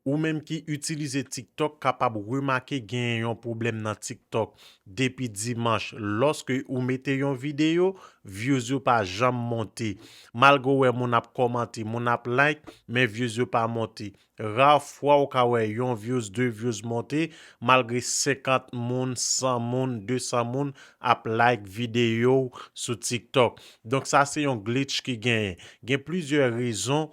Ou menm ki itilize TikTok kapab remake genyen yon pwoblèm nan TikTok depi dimanch lòske ou mete yon videyo, views yo pa janm monte. Malgre ou wè moun ap kòmante, moun ap like, men views yo pa monte. Rare fwa ou ka wè yon views, 2 views monte malgre 50 moun, 100 moun, 200 moun ap like videyo ou sou TikTok. Donk sa se yon glitch ki genyen. Gen plizyè rezon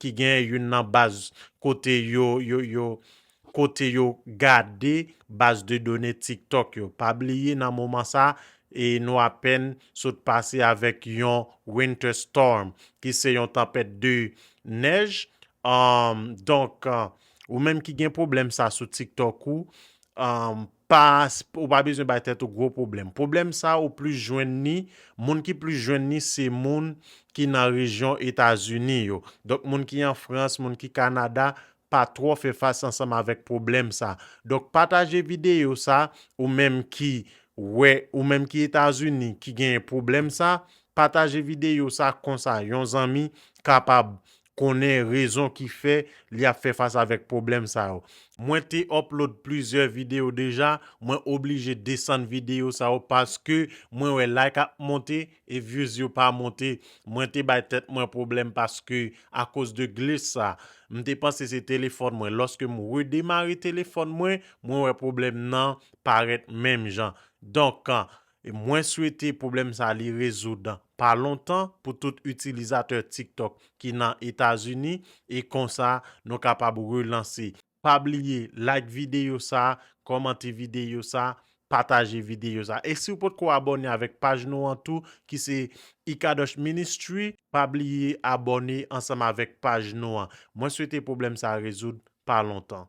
ki gen youn nan baz kote yo kote yo gade baz de done TikTok yo. Pa bliye nan moman sa e nou apèn sot pase avèk yon Winter Storm ki se yon tanpèt de nèj. Donk ou menm ki gen pwoblèm sa sou TikTok ou, pa ou pa bezwen bay tèt ou gwo pwoblèm pwoblèm sa ou plis jwenn ni moun ki plis jwenn ni se moun ki nan rejyon etazini yo donk moun ki an frans moun ki kanada pa twò fè fas ansanm avèk pwoblèm sa donk pataje videyo sa ou menm ki wè ou menm ki etazini ki genyen pwoblèm sa pataje videyo sa konsa yon zanmi kapab konnen rezon ki fè li ap fè fas avèk pwoblèm sa yo. Mwen te upload plizyè videyo deja, mwen oblije desann videyo sa yo paske mwen wè like ap monte e views yo pa monte. Mwen te bay tèt mwen pwoblèm paske akoz de glitch sa. M te panse se telefòn mwen, lòske m redemare telefòn mwen, mwen wè pwoblèm nan parèt menm jan. Donk, E mwen swete pwoblèm sa li rezoud pa lontan pou tout itilizatè TikTok ki nan Etazini e konsa nou kapab relanse. Pa bliye like videyo sa, kòmante videyo sa, pataje videyo sa. E siw potko abòne avèk paj nou an tou ki se Ikadosh Ministry pa bliye abòne ansanm avèk paj nou an. Mwen swete pwoblèm sa rezoud pa lontan.